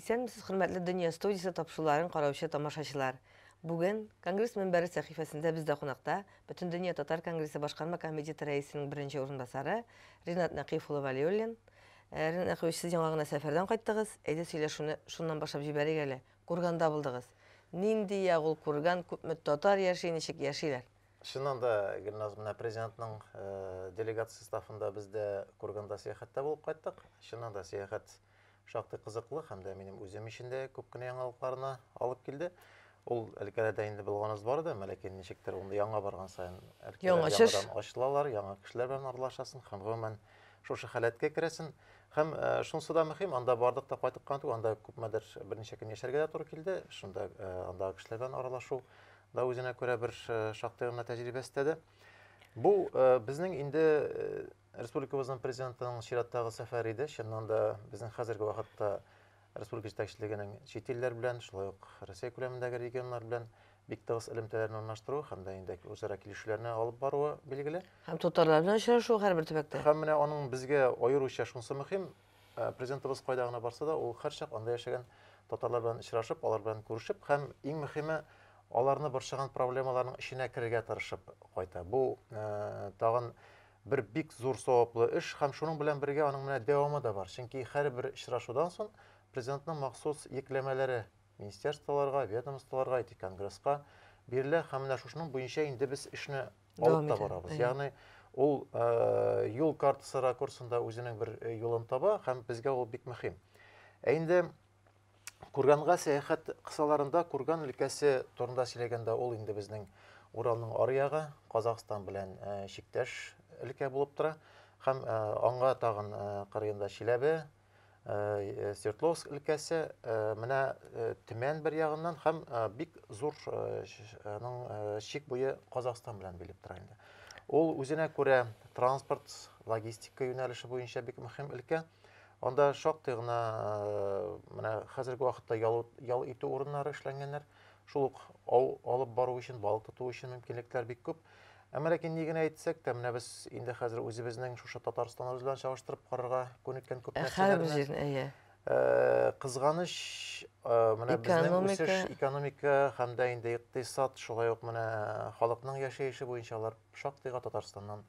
Исәнмесез, хөрмәтле Дөнья студиясе тапшыруларын караучы тамашачылар. Бүген конгресс мөнбәре сәхифәсендә бездә кунакта Бөтендөнья татар конгрессы башкарма комитеты рәисенең беренче урынбасары Ринат Нәкыйф улы Валиуллин. Э, Ринат Нәкыйфович, сез яңа гына сәфәрдән кайттыгыз. Әйдә сөйләшүне шуннан башлап җибәрик әле. Курганда булдыгыз. Нинди як ул Курган, күпме татар яши, ничек яшиләр? Чыннан да, Гөлназ, менә президентның делегация составында без дә Курганда сәяхәттә булып кайттык. Чыннан да сәяхәт шактый кызыклы һәм дә минем үзем өчен дә күп кенә яңалыкларына алып килде. Ул өлкәләрдә инде булганыбыз бар да, ләкин ничектер ул яңа барган саен өлкәләр яңадан ачылалар, яңа кешеләр белән аралашасың һәм гомумән шушы халәткә керәсен. Һәм э, шунысы да мөһим, анда бардык та кайтып кына түгел, анда күпмедер берничә көн яшәргә дә туры килде. Шунда э, андагы кешеләр белән аралашу да үзенә күрә бер э, шактый гына тәҗрибә өстәде. Бу безнең инде республикабызның президентының чираттагы сәфәре иде. Чыннан да безнең хәзерге вакытта республика җитәкчелегенең чит илләр белән, шулай ук Россия күләмендәге регионнар белән бик тыгыз элемтәләрне урнаштыру һәм дә инде үзара килешүләрне алып баруы билгеле. Һәм татарлар белән очрашу һәрбер төбәктә. Һәм менә аның безгә аеруча шунысы мөһим, э, президентыбыз кайда гына барса да, ул һәрчак анда яшәгән татарлар белән очрашып, алар белән күрешеп һәм иң мөһиме аларны борчыган проблемаларның эченә керергә тырышып кайта. Бу э, тагын бер бик зур саваплы эш һәм шуның белән бергә аның менә дәвамы да бар. Чөнки һәрбер очрашудан соң Президентның махсус йөкләмәләре министерстволарга, ведомстволарга, IT-конгресска бирелә һәм менә шушының буенча инде без эшне алып та барабыз. Ягъни ул юл картасы ракурсында үзенең бер юлын таба һәм безгә ул бик мөһим. Ә инде Курганга сәяхәт кысаларында Курган өлкәсе турында сөйләгәндә ул инде безнең Уралның ары ягы, Казахстан белән э, чиктәш өлкә булып тора. Һәм э, аңа тагын э, кырыенда Чиләбе, э, Свердловск өлкәсе, э, менә э, Төмән бер ягыннан һәм э, бик зур э, ш- э, аның, э, чик буе Казахстан белән билеп тора инде. Ул үзенә күрә транспорт, логистика юнәлеше буенча бик мөһим өлкә. Анда шактый гына менә хәзерге вакытта ял, ял итү урыннары эшләнгәннәр. Шул ук ау алып бару өчен, балык тоту өчен мөмкинлекләр бик күп. Әмма ләкин ни генә әйтсәк тә, менә без инде хәзер үзебезнең шушы Татарстаныбыз белән чагыштырып карарга күнеккән күп ә, нәрсәләрне. Ә, кызганыч, ә, менә безнең үсеш экономика һәм дә инде икътисад, шулай ук менә халыкның яшәеше буенча алар шактыйга Татарстаннан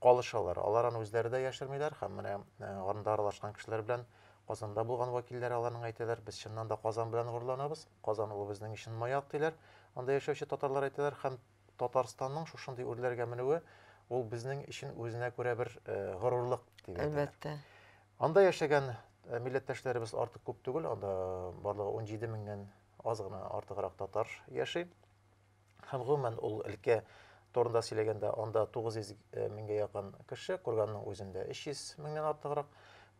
калышалар. Алар аны үзләре дә яшермиләр һәм менә э, анда аралашкан кешеләр белән Казанда булган вәкилләр аларның әйтәләр, без чыннан да Казан белән горурланабыз, Казан ул безнең өчен маяк диләр. Анда яшәүче татарлар әйтәләр һәм Татарстанның шушындый үрләргә менүе ул безнең өчен үзенә күрә бер э, горурлык дип әйтәләр. Әлбәттә. Анда яшәгән э, милләттәшләребез артык күп түгел, анда барлыгы 17 меңнән аз гына артыграк татар яши. Һәм гомумән ул өлкә турында сөйләгәндә, анда 900 э, меңгә якын кеше, Курганның үзендә 300 меңнән артыграк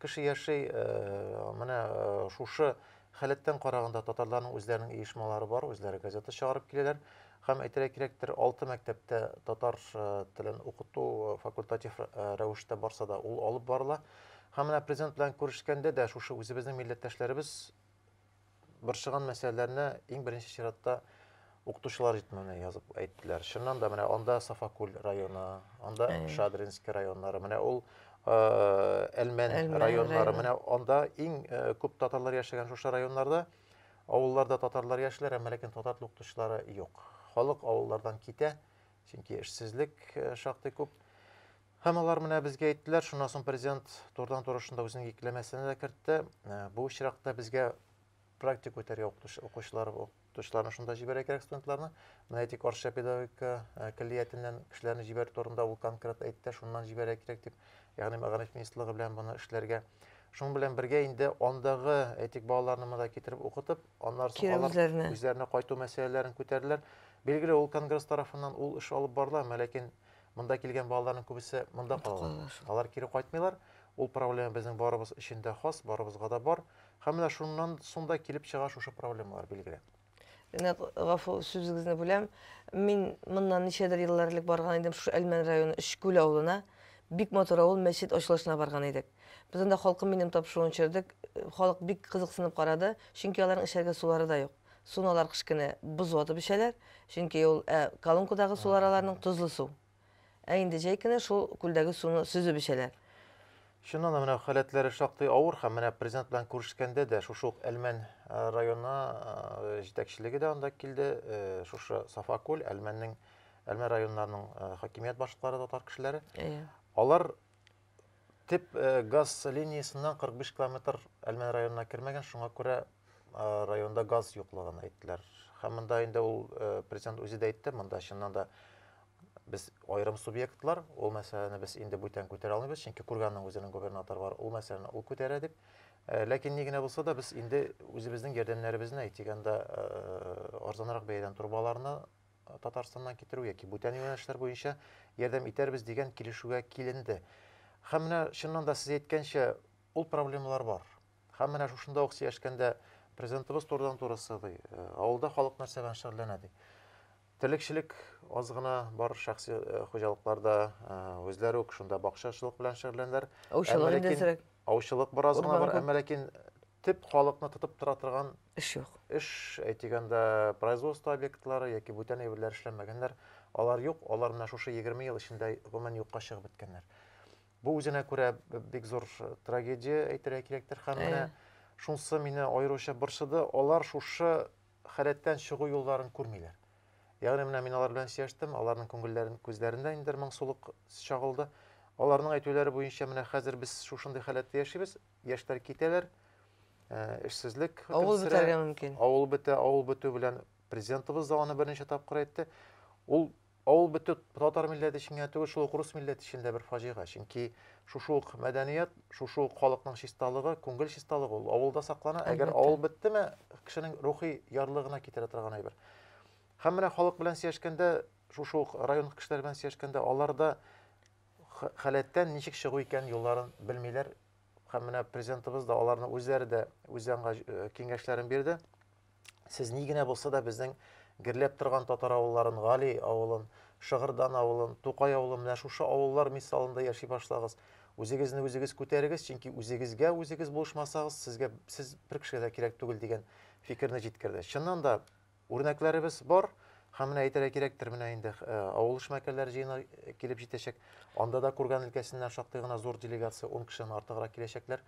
кеше яши. Э, менә э, шушы халәттән караганда татарларның үзләренең оешмалары бар, үзләре газета чыгарып киләләр. Һәм әйтергә кирәктер, алты мәктәптә татар телен укыту факультатив рәвештә барса да, ул алып барыла. Һәм менә президент белән күрешкәндә дә шушы үзебезнең милләттәшләребез борчыган мәсьәләләрне иң беренче чиратта укытучылар җитмәүне язып әйттеләр. Чыннан да менә анда Сафакүл районы, анда Шадринский районнары, менә ул Әлмән районнары, менә анда иң күп татарлар яшәгән шушы районнарда авылларда татарлар яшиләр, әмма ләкин татар тел укытучылары юк. Халык авыллардан китә, чөнки эшсезлек шактый күп. Һәм алар менә безгә әйттеләр, шуннан соң президент турыдан-туры шунда үзенең йөкләмәсенә дә кертте. Ә, Бу очракта безгә практика үтәргә укытучы- укучылар, укытучыларны шунда җибәрә кирәк студентларны. Менә әйтик, Арча педагогика ә, көллиятеннән кешеләрне җибәрү турында ул конкрет әйтте, шуннан җибәрә кирәк дип, ягъни мәгариф министрлыгы белән моны эшләргә. Шуның белән бергә инде андагы, әйтик, балаларны монда китереп укытып, аннан соң Кире алар үзләренә. үзләренә кайту мәсьәләләрен күтәрделәр. Билгеле, ул конгресс тарафыннан ул эш алып барыла, әмма ләкин Монда килгән балаларның күбесе монда калалар. Алар кире кайтмыйлар. Ул проблема безнең барыбыз өчен дә хас, барыбызга да бар. Һәм менә шуннан соң да килеп чыга шушы проблемалар билгеле. Менә гафу сүзегезне бүләм. Мин моннан ничәдер еллар элек барган идем шушы Әлмән районы Өчкүл авылына. Бик матур авыл, мәчет ачылышына барган идек. Без анда халкым минем тапшыруын чөрдек. Халык бик кызыксынып карады, чөнки аларның эчәргә сулары да юк. Суны алар кыш көне боз ватып эчәләр, чөнки ул ә колонкадагы сулар аларның тозлы су. Ә инде җәй көне шул күлдәге суны сөзеп эчәләр. Чыннан да, менә халәтләре шактый авыр һәм менә президент белән күрешкәндә дә шушы ук Әлмән районы җитәкчелеге дә анда килде, шушы Сафа күл, Әлмәннең Әлмән районнарының хакимият башлыклары татар кешеләре. Алар Тип э, газ линиясеннән 45 километр Әлмән районына кермәгән, шуңа күрә районда газ юклыгын әйттеләр. Һәм монда инде ул э, президент үзе дә әйтте, монда чыннан да без аерым субъектлар, ул мәсьәләне без инде бүтән күтәрә алмыйбыз, чөнки күргәннең үзенең губернатор бар, ул мәсьәләне ул күтәрә дип. Э, ләкин ни генә булса да без инде үзебезнең ярдәмнәребезне әйтегәндә арзанрак бәядән турбаларны Татарстаннан китерү яки бүтән юнәлешләр буенча ярдәм итәрбез дигән килешүгә киленде. Һәм менә чыннан да сез әйткәнчә, ул проблемалар бар. Һәм менә шушында ук сөйләшкәндә президентыбыз турыдан-туры сыдый, э, авылда халык нәрсә белән шөгыльләнә ди. Терлекчелек аз гына бар шәхси э, хуҗалыкларда, э, үзләре үк шунда бакчачылык белән шөгыльләнәләр. Аучылык Әмма ләкин- индезрәк. Аучылык бераз гына Урман бар, күп. әмма ләкин төп халыкны тотып тора торган эш юк. Эш, әйтик анда, производство объектлары яки бүтән әйберләр эшләмәгәннәр, алар юк, алар менә шушы егерме ел эчендә гомумән юкка чыгып беткәннәр. Бу үзенә күрә бик зур трагедия әйтергә кирәктер һәм менә шунсы мине аеруча борчыды, алар шушы халәттән чыгу юлларын күрмиләр. Ягъни менә мин алар белән сөйләштем, аларның күңелләрен күзләрендә инде моңсулык чагылды. Аларның әйтүләре буенча менә хәзер без шушындый халәттә яшибез, яшьләр китәләр, э, эшсезлек Авыл хөкемсерә, бетәргә мөмкин. Авыл бетә, авыл бетү белән президентыбыз да аны берничә тапкыр әйтте. Ул авыл бетү татар милләте өчен генә түгел, шул ук рус милләте өчен дә бер фаҗига. Чөнки шушы ук мәдәният, шушы ук халыкның чисталыгы, күңел чисталыгы ул авылда саклана. Әгәр Әлбәттә. авыл беттеме, кешенең рухи ярлыгына китерә торган әйбер. Һәм менә халык белән сөйләшкәндә, шушы ук район кешеләре белән сөйләшкәндә, аларда халәттән ничек чыгу икән юлларын белмиләр. Һәм менә президентыбыз да аларны үзләре дә үзе аңа э, киңәшләрен бирде. Сез ни генә булса да безнең герләп торган татар авылларын, Гали авылын, Шыгырдан авылын, Тукай авылын, менә шушы авыллар мисалында яши башлагыз. Үзегезне үзегез күтәрегез, чөнки үзегезгә үзегез булышмасагыз, сезгә сез бер кешегә дә кирәк түгел дигән фикерне җиткерде. Чыннан да Үрнәкләребез бар. Һәм менә әйтергә кирәктер, менә инде авыл эшмәкәрләре җыены килеп җитәчәк. Анда да Курган өлкәсеннән шактый гына зур делегация, 10 кешедән артыграк киләчәкләр.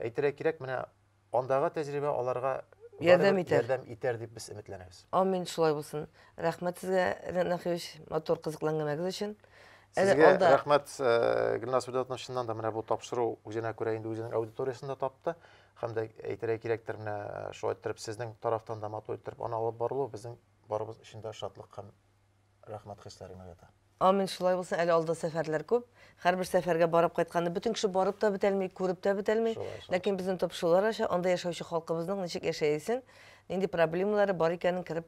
Әйтергә кирәк, менә андагы тәҗрибә аларга ярдәм итәр, ярдәм итәр дип без өметләнәбез. Амин, шулай булсын. Рәхмәт сезгә, Ренат Нәхиевич, матур кызыклы әңгәмәгез өчен. Сезгә рәхмәт, Гөлназ Фидатовна, чыннан да менә бу тапшыру үзенә күрә инде үзенең аудиториясен дә тапты. Һәм дә әйтергә кирәктер, менә шулай иттереп сезнең тарафтан да матур иттереп аны алып барылу безнең барыбыз өчен дә шатлык һәм рәхмәт хисләрен уята. Амин, шулай булсын, әле алда сәфәрләр күп. Һәрбер сәфәргә барып кайтканда бөтен кеше барып та бетәлми, күреп тә бетәлми. Ләкин безнең топ шулар аша, анда яшәүче халкыбызның ничек яшәясен, нинди проблемалары бар икәнен кереп